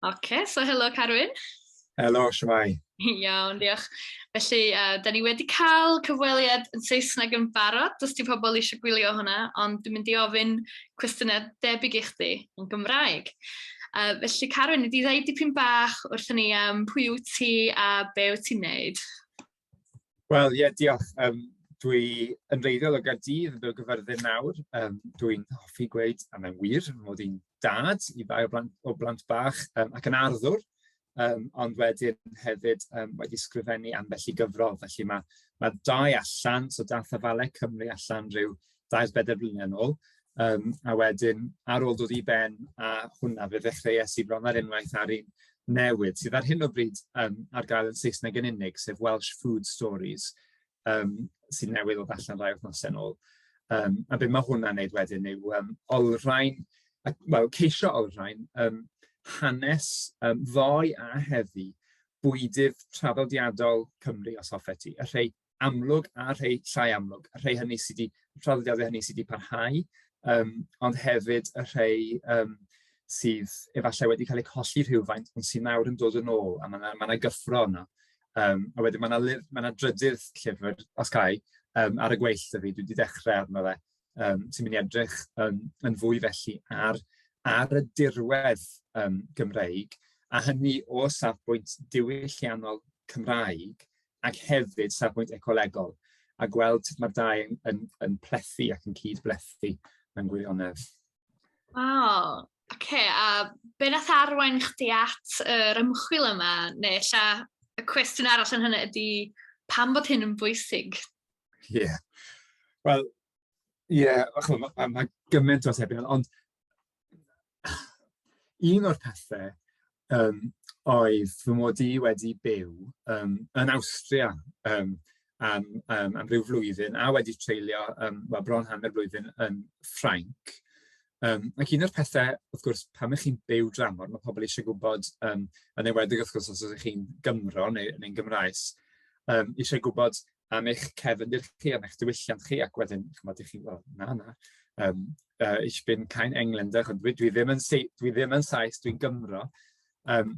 Oce, okay, so helo Carwyn. Helo, siamai. Iawn, diolch. Felly, uh, da ni wedi cael cyfweliad yn Saesneg yn barod, os ti pobl eisiau gwylio hwnna, ond dwi'n mynd i ofyn cwestiynau debyg i chdi yn Gymraeg. Uh, felly, Carwyn, ydy ddau dipyn bach wrth ni am pwy yw ti a be wyt ti'n neud? Wel, ie, diolch. Yym, dwi yn wreiddiol o Gaerdydd, yn byw yn Gaerfyrddin nawr. Yym, dwi'n hoffi gweud, a mae'n wir, fy mod i'n dad i ddau o blant o blant bach yym ac yn arddwr, yym, ond wedyn hefyd yym wedi ysgrifennu ambell i gyfrol. Felly ma' ma' dau allan, so daeth Afalau Cymru allan ryw dair bedair blynedd yn ôl, um, a wedyn ar ôl dod i ben a hwnna fe ddechreuais i bron ar unwaith ar un newydd sydd ar hyn o bryd um, ar gael yn Saesneg yn unig, sef Welsh Food Stories, um, sydd newydd o allan rai wythnos yn ôl. Um, a beth mae hwnna'n neud wedyn yw um, olrhain, wel, ceisio olrhain um, hanes um, ddoe a heddi bwydydd traddodiadol Cymru, os hoffet ti, y rhai amlwg a rhai llai amlwg, y rhai hynny sydd wedi, y traddodiadau hynny sydd wedi parhau, yym, ond hefyd y rhai yym sydd efallai wedi cael eu colli rhywfaint, ond sydd nawr yn dod yn ôl, a ma' 'na ma' 'na gyffro yna. Yym, a wedyn ma' 'na lyf- ma' 'na drydydd llyfr, os ca' i, yym, ar y gweill 'da fi, dwi 'di dechrau arno fe, yym, sy'n mynd i edrych yn yn fwy felly ar ar y dirwedd yym Gymreig, a hynny o safbwynt diwylliannol Cymraeg, ac hefyd safbwynt ecolegol, a gweld sut mae'r dau yn, yn, yn plethu ac yn cyd-blethu mewn gwirionedd. Wow, oce, okay, a be nath arwain chdi at yr ymchwil yma, neu lla y cwestiwn arall yn hynny ydy pam bod hyn yn bwysig? Ie, yeah. wel, ie, yeah, mae ma, ma gymaint o atebion, ond Un o'r pethe yym oedd fy mod i wedi byw yym yn Awstria yym am yym am ryw flwyddyn a wedi treulio yym wel bron hanner blwyddyn yn Ffrainc, yym ac un o'r pethe wrth gwrs pan 'y chi'n byw dramor ma' pobl isie gwybod yym yn enwedig wrth gwrs os ydych chi'n Gymro neu neu'n Gymraes yym isie gwybod am eich cefndir chi, am eich diwylliant chi, ac wedyn, chymod, i chi, well, na, na, um, uh, ich bin kein Engländer, dwi, dwi, ddim yn, dwi ddim yn Sais, dwi'n Gymro. Um,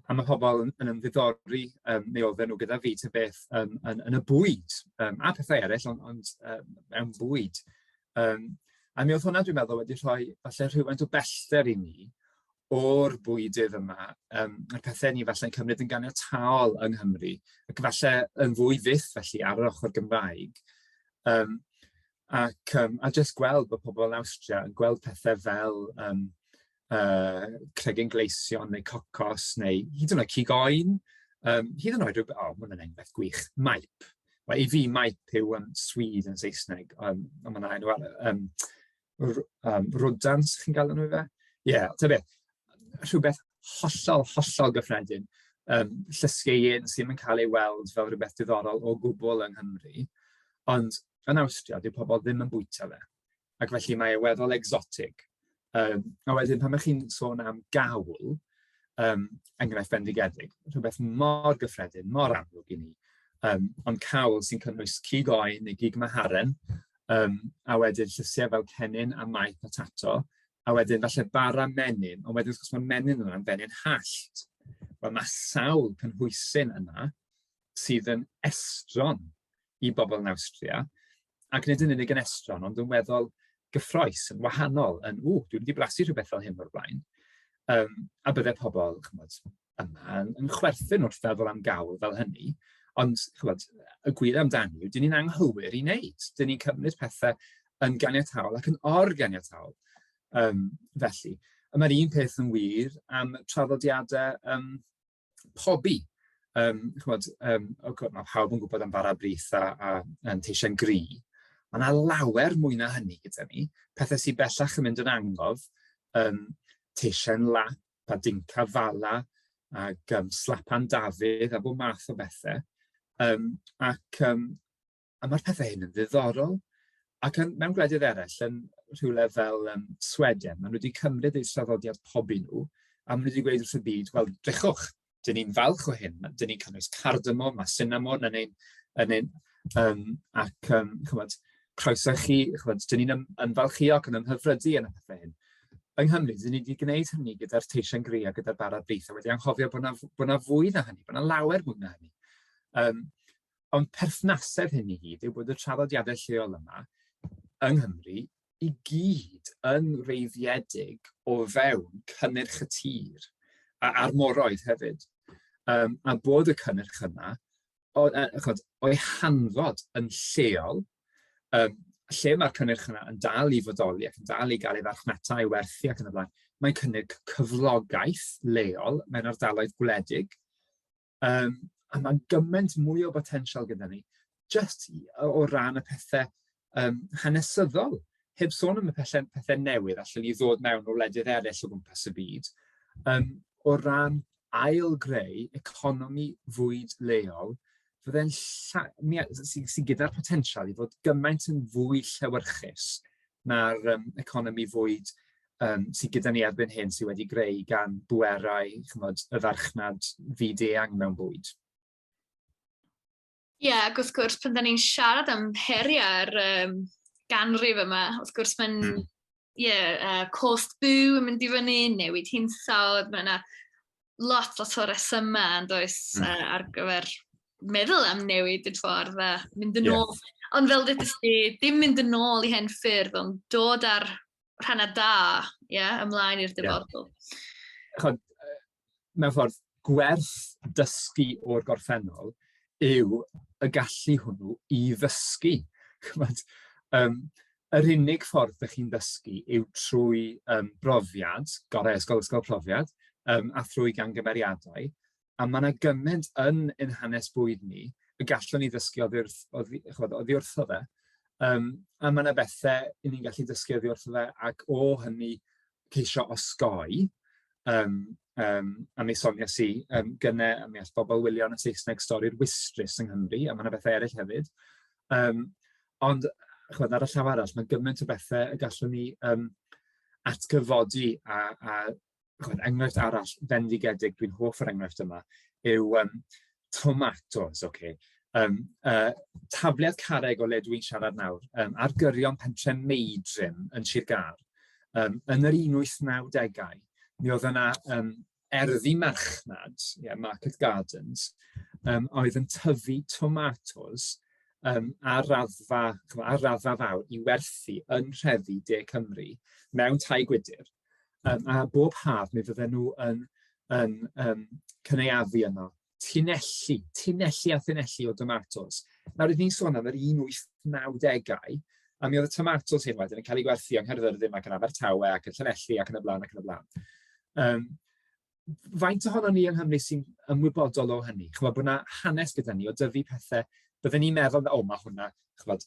a mae pobl yn, yn ymddiddori, um, neu oedden nhw gyda fi, ta beth, um, yn, yn y bwyd, um, a pethau eraill, ond, ond um, mewn bwyd. Um, a mi oedd hwnna, dwi'n meddwl, wedi rhoi falle rhywfaint o bellter i ni, o'r bwydydd yma, yym a'r pethe ni falle'n cymryd yn ganiataol yng Nghymru, ac falle yn fwy fyth felly ar yr ochr Gymraeg, yym ac yym a jyst gweld bod pobl yn Awstria yn gweld pethe fel yym yy cregyn gleision neu cocos neu hyd yn oed cig oen, yym hyd yn oed ryw b- o ma' hwnna'n enghraifft gwych, maip, wel i fi maip yw yym swede yn Saesneg, yym ond ma' 'na enw arall yym r- yym rodents chi'n galw nhw ife? Ie, ta beth, rhywbeth hollol, hollol gyffredin, yym llysieuyn sy ddim yn cael ei weld fel rywbeth diddorol o gwbl yng Nghymru, ond yn Awstria dyw pobl ddim yn bwyta fe, ac felly mae e weddol egsotig. Yym a wedyn pan 'y chi'n sôn am gawl, yym enghraifft bendigedig, rhywbeth mor gyffredin, mor amlwg i ni, yym ond cawl sy'n cynnwys cig oen neu gig maharen, Yym a wedyn llysiau fel cennin a mae potato, a wedyn falle bara menyn, ond wedyn wrth gwrs mae menyn yna'n fenyn hallt. Wel mae sawl cynhwysyn yna sydd yn estron i bobl yn Awstria, ac nid yn unig yn estron, ond yn weddol gyffrous, yn wahanol, yn, 'ww, dwi'm 'di blasu rhywbeth fel hyn o'r blaen', yym a bydde pobl, chimod... yma yn chwerthin wrth feddwl am gawl fel hynny, ond chybod, y gwir amdani yw, dyn ni'n anghywir i wneud. Dyn ni'n cymryd pethau yn ganiataol ac yn organiataol. Um, felly, y mae'r un peth yn wir am traddodiadau um, pobi. Um, chymod, um, okay, mae pawb yn gwybod am bara brith a, a, a teisiau gri. Mae yna lawer mwy na hynny gyda ni, pethau sy'n bellach yn mynd yn angof, um, teisiau lap, Badinka Fala ac um, Slapan Dafydd a bod math o bethau. Um, ac um, a mae'r pethau hyn yn ddiddorol. Ac yn, mewn gwledydd eraill, yn rhywle fel um, Sweden, maen nhw wedi cymryd eu traddodiad pobi nhw, a maen nhw wedi gweud wrth y byd, wel, drechwch, dyn ni'n falch o hyn, dyn ni'n cynnwys cardamom a sinamon yn ein yn ein yym ac yym chimod croeso i chi chimod dyn ni'n ymfalchïog yn ymhyfrydu yn y pethe hyn. Yng Nghymru, dyn ni wedi gwneud hynny gyda'r teisen gri a gyda'r bara brith a wedi anghofio bod 'na f- bod 'na fwy na hynny, bod 'na lawer mwy na hynny. Yym ond perthnasedd hyn i gyd yw bod y traddodiadau lleol yma yng Nghymru i gyd yn reiddiedig o fewn cynnyrch y tir, a, a'r moroedd hefyd, um, a bod y cynnyrch yna o, uh, o'i hanfod yn lleol, um, lle mae'r cynnyrch yna yn dal i fodoli ac yn dal i gael ei farchnata, ei werthu ac yn y blaen, mae'n cynnig cyflogaeth leol mewn ardaloedd gwledig, Um, a mae'n gymaint mwy o botensial gyda ni, just o ran y pethau um, hanesyddol, heb sôn am y pethau, pethau newydd allan i ddod mewn o wledydd eraill o gwmpas y byd, um, o ran ail greu economi fwyd leol, fydde'n sy, sy gyda'r potensial i fod gymaint yn fwy llewyrchus na'r yym economi fwyd yym sy gyda ni erbyn hyn, sy wedi greu gan bwerau, chimod, y farchnad fyd-eang mewn bwyd. Ie, yeah, ac wrth gwrs, pan da ni'n siarad am heriau'r um, ganrif yma, wrth gwrs mae'n, mm. ie, hmm. yeah, uh, cost byw yn mynd i fyny, newid hinsawdd, mae yna lot, lot o resymau yn does mm. uh, ar gyfer meddwl am newid y ffordd a mynd yn ôl. Yeah. Ond fel dydych chi, dim mynd yn ôl i hen ffyrdd, ond dod ar rhannau da, yeah, ymlaen i'r dyfodol. Yeah. Chod, mewn ffordd, gwerth dysgu o'r gorffennol yw y gallu hwnnw i ddysgu. Chymod, um, Yr unig ffordd dach chi'n dysgu yw trwy yym brofiad, gorau ysgol ysgol profiad, yym a thrwy gamgymeriadau, a mae 'na gymaint yn ein hanes bwyd ni y gallwn ni ddysgu oddi wrth oddi chimod oddi wrtho fe, yym a mae 'na bethe 'y ni'n gallu dysgu oddi wrtho fe ac o hynny ceisio osgoi yym yym a mi soniais i yym gynne a mi all bobl wylio yn y Saesneg stori'r Wistrys yng Nghymru a mae 'na bethe eraill hefyd yym Ond chimod, ar y llaw arall, mae gymaint o bethau y gallwn ni yym atgyfodi a a chimod, enghraifft arall fendigedig, dwi'n hoff o'r enghraifft yma, yw yym tomatos, ocê, yym yy tafliad carreg o le dwi'n siarad nawr, yym ar gyrion pentre Meidrim yn Sir Gâr, yym yn yr un wyth nawdegau, mi oedd yna yym erddi marchnad, yeah, market gardens, um, oedd yn tyfu tomatos um, ar, raddfa, ar raddfa fawr i werthu yn rheddi De Cymru mewn tai gwydr. Um, a bob haf mi fydden nhw yn, yn um, cynaeafu yno tunelli, tunelli a thunelli o domatos. Nawr, rydyn ni'n sôn am yr 1890au, a mi oedd y tomatos hyn wedyn yn cael ei gwerthu yng Nghaerfyrddin ac yn Abertawe ac yn Llanelli ac yn y blaen ac yn y blaen. Um, faint ohono ni yng Nghymru sy'n ymwybodol o hynny? Chymod bod yna hanes gyda ni o dyfu pethau, byddwn ni'n meddwl, o, mae hwnna, chymod,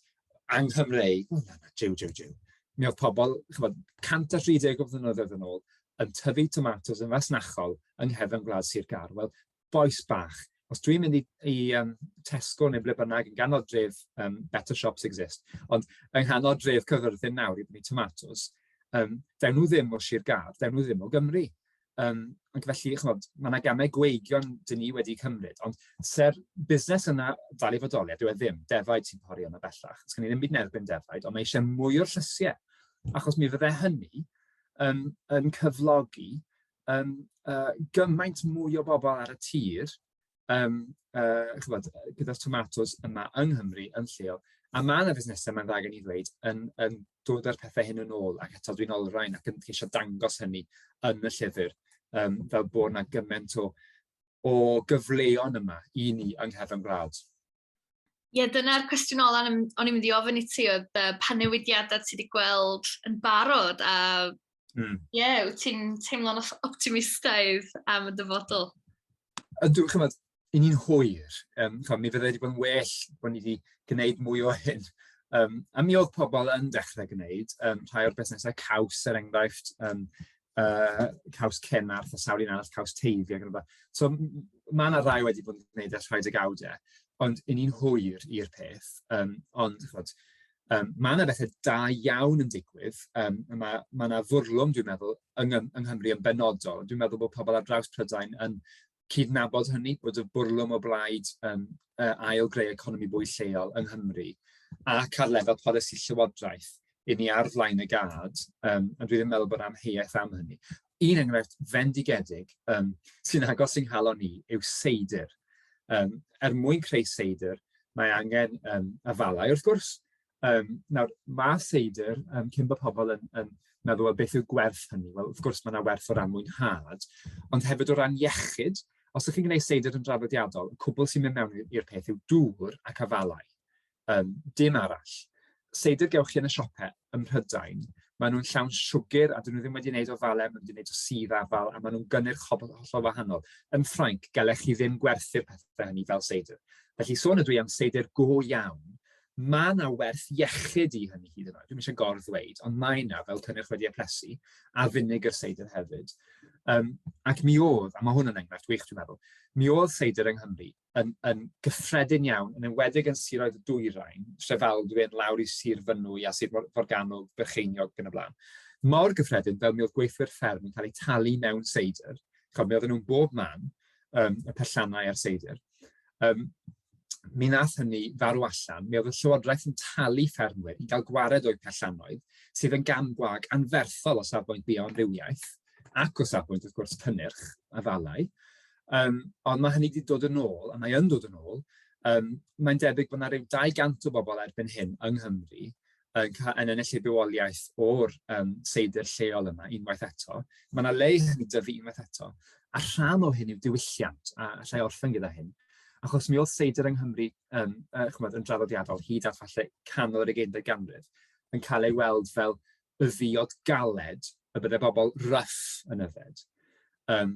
anghyfreu, ww na na, jiw jiw jiw. Mi oedd pobl, chimod, 130 o flynyddoedd yn ôl, yn tyfu tomatos yn fasnachol yng nghefn gwlad Sir Gâr. Wel, bois bach, os dwi'n mynd i i yym Tesco neu ble bynnag yn ganol dref yym Better Shops Exist, ond yng nghanol dref Caerfyrddin nawr i brynu tomatos, yym, 'dyn nhw ddim o Sir Gâr, 'dyn nhw ddim o Gymru. Yym ac felly, chimod, ma' 'na gamau gweigion dan ni wedi cymryd, ond se'r busnes yna dal i fodoli, a dyw e ddim, defaid sy'n pori yno bellach, sgen i ddim byd yn erbyn defaid, ond mae eisiau mwy o'r llysiau, achos mi fydde hynny yn yn cyflogi yym yy gymaint mwy o bobl ar y tir yym yy chimod gyda'r tomatos yma yng Nghymru yn lleol, a ma' 'na fusnesau mae'n dda gen i ddweud yn yn dod â'r pethe hyn yn ôl ac eto dwi'n olrhain ac yn ceisio dangos hynny yn y llyfr yym fel bod 'na gymaint o o gyfleon yma i ni yng nghefn gwlad. Ie, dyna'r cwestiwn ola o'n i'n mynd i ofyn i ti oedd uh, pa newidiadau ti wedi gweld yn barod a mm. ie, wyt ti'n teimlo'n optimistaidd am y dyfodol? a dw- chimod, 'y ni'n hwyr, yym chimod, mi fyddai 'di bod yn well bod ni 'di gwneud mwy o hyn, yym a mi oedd pobl yn dechrau gwneud, yym rhai o'r busnesau caws, er enghraifft, yym yy Caws Cennarth a sawl un arall, Caws Teifi ac yn y blaen, so ma' 'na rai wedi bod yn gwneud e ers rhai degawdau, ond 'y ni'n hwyr i'r peth, yym ond chimod, Yym, mae yna bethe da iawn yn digwydd, yym ma' ma' 'na fwrlwm dwi'n meddwl yng ng- yng Nghymru yn benodol, dwi'n meddwl bod pobl ar draws Prydain yn cydnabod hynny, bod y bwrlwm o blaid yym yy ail-greu economi bwyd lleol yng Nghymru, ac ar lefel polisi llywodraeth, 'yn ni ar flaen y gad, yym ond dwi ddim yn meddwl bod 'na amheuaeth am hynny. Un enghraifft fendigedig yym sy'n agos i'n nghalon i yw seidr. Yym, er mwyn creu seidr, mae angen yym afalau wrth gwrs. Yym nawr ma' seidr yym cyn bo' pobl yn yn meddwl wel beth yw gwerth hynny? Wel wrth gwrs ma' 'na werth o ran mwynhad, ond hefyd o ran iechyd, os 'y chi'n gwneud seidr yn draddodiadol, y cwbl sy'n mynd mewn i'r peth yw dŵr ac afalau. Yym, dim arall. Seidr gewch chi yn y siopau ym Mhrydain, maen nhw'n llawn siwgr a 'dyn nhw ddim wedi wneud o falen, maen nhw wedi wneud o sudd afal a maen nhw'n gynnyrch hob- hollol wahanol. Yn Ffrainc, gallech chi ddim gwerthu'r pethe hynny fel seidr. Felly, sôn ydw i am seidr go iawn, mae 'na werth iechyd i hynny hyd yn oed, dwi'm isie gor-ddweud, ond mae 'na, fel cynnyrch wedi eplesu, a finegr seidr hefyd. Yym, ac mi oedd, a ma' hwn yn enghraifft wych dwi'n meddwl, mi oedd seidr yng Nghymru yn, yn gyffredin iawn, yn enwedig yn siroedd y dwyrain, Trefaldwyn, lawr i Sir Fynwy a Sir Forgannwg, Bercheiniog ac yn y blaen. Mor gyffredin fel mi oedd gweithwyr fferm yn cael eu talu mewn seidr, chod, mi oedden nhw'n bob man, um, y pellannau a'r seidr. Um, mi nath hynny farw allan, mi oedd y Llywodraeth yn talu ffermwyr i gael gwared o'i pellannoedd, sydd yn gam gwag anferthol o safbwynt bioamrywiaeth ac o safbwynt, wrth gwrs, cynnyrch a falau. Yym, ond mae hynny 'di dod yn ôl, a mae yn dod yn ôl. Yym, mae'n debyg bod 'na ryw 200 o bobl erbyn hyn yng Nghymru yn ca- yn ennill eu bywoliaeth o'r yym seidr lleol yma, unwaith eto. Mae 'na le i hynny dyfu unwaith eto, a rhan o hyn yw diwylliant, a alla i orffen gyda hyn, achos mi oedd seidr yng Nghymru yym yy chimod yn draddodiadol hyd at falle canol yr ugeinfed ganrif yn cael ei weld fel y ddiod galed y byddai bobl rough yn yfed. Yym.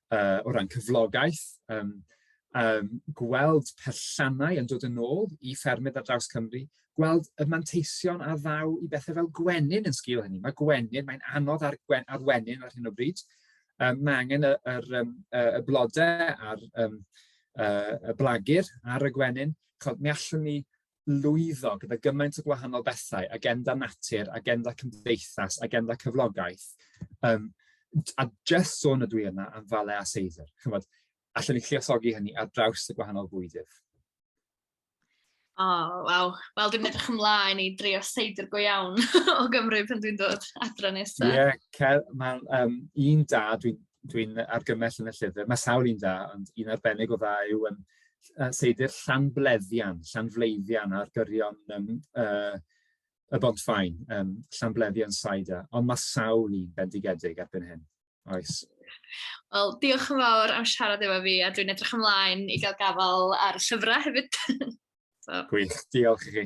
uh, o ran cyflogaeth, um, um, gweld perllannau yn dod yn ôl i ffermydd ar draws Cymru, gweld y manteision a ddaw i bethau fel gwenyn yn sgil hynny. Mae gwenyn, mae'n anodd ar, gwen, ar wenyn ar hyn o bryd. Um, mae angen y, y, y, y blodau a'r um, uh, y blagur ar y gwenyn. Chod, mi allwn ni lwyddo gyda gymaint o gwahanol bethau, agenda natur, agenda cymdeithas, agenda cyflogaeth. Um, a jyst sôn ydw i yna am fale a seidr. Chymod, allan ni lliosogi hynny ar draws y gwahanol fwydydd. O, oh, waw. Wel, dwi'n edrych ymlaen i drio seidr go iawn o Gymru pan dwi'n dod adra nesaf. Ie, yeah, mae'n um, un da dwi'n dwi, dwi argymell yn y llyfr. Mae sawl un da, ond un arbennig o dda yw um, yy seidr Llanbleddian, Llanfleiddian ar gyrion yym yy y Bontfaen, yym Llanbleddian Cider, ond mae sawl un bendigedig erbyn hyn, oes? Wel, diolch yn fawr am siarad efo fi, a dwi'n edrych ymlaen i gael gafael ar y llyfrau hefyd. so. Gwych, diolch i chi.